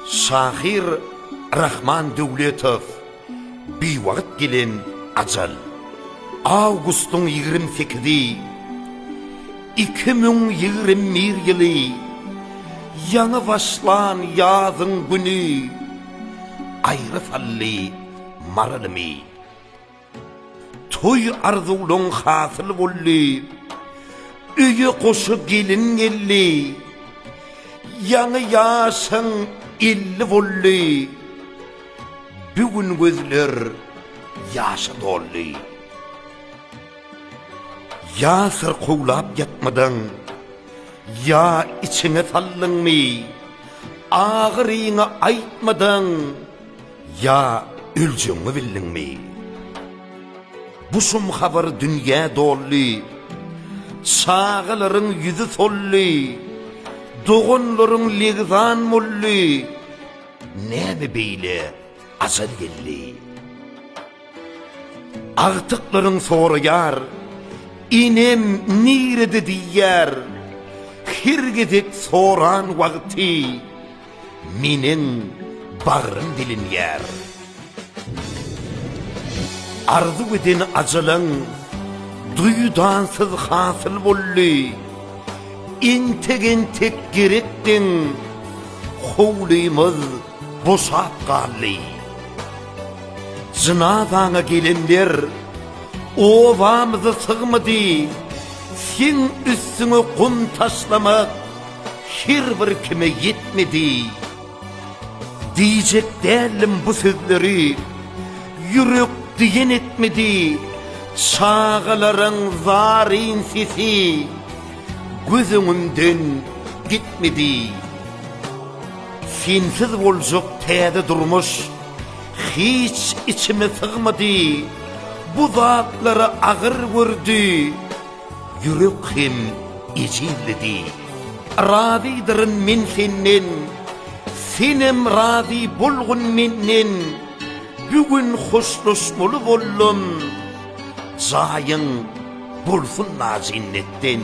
Şahyr Rahman Döwletow Biwagt gelen ajal Awgustyň 28-i 2021 ýyly Ýaňy başlan ýazyň güni Aýry sally maralymy Toý arzuwlaň hasyl boldy. Öýe goşa gelin geldi. Ýaňy ýaşaň elli boldy. Bu gün gözler ýaşa doldy. Ýa syrkawlap ýatmadyň, ýa içiňe saldyňmy? Agyryňy aýtmadyň, Ýa öljegiňi bildiňmi? Bu şum habar dünýä doldy. Çagalaryň ýüzi soldy. Doganlaryň legzan boldy. Näme beýle ajal geldi? Agtyklaryň soraýar, Enem nirede diýýär. Her gezek soran wagty. Meniň bagrym dilinýär. Arzuw eden ajalaň duýdansyz hasyl boldy. Entek-entek gerekdiň, howlymyz boşap galdy. Jynazaňa gelenler obamyza sygmady. Seň üstüňe gum taşlamak Her bir kime ýetmedi. Diýjek däldim bu sözleri. Ýürek diýen etmedi. Çagalaryň zaryn sesi. Göz öňümden gitmedi. Sensiz boljak täze durmuş. Hiç içime sygmady. Bu zatlara agyr gördi. Ýürek hem ejizlidi. Razydyryn men senden, Senem razy bolgun menden, Bu gün hoşlaşmaly boldum, Jaýyň bolsun najennetden.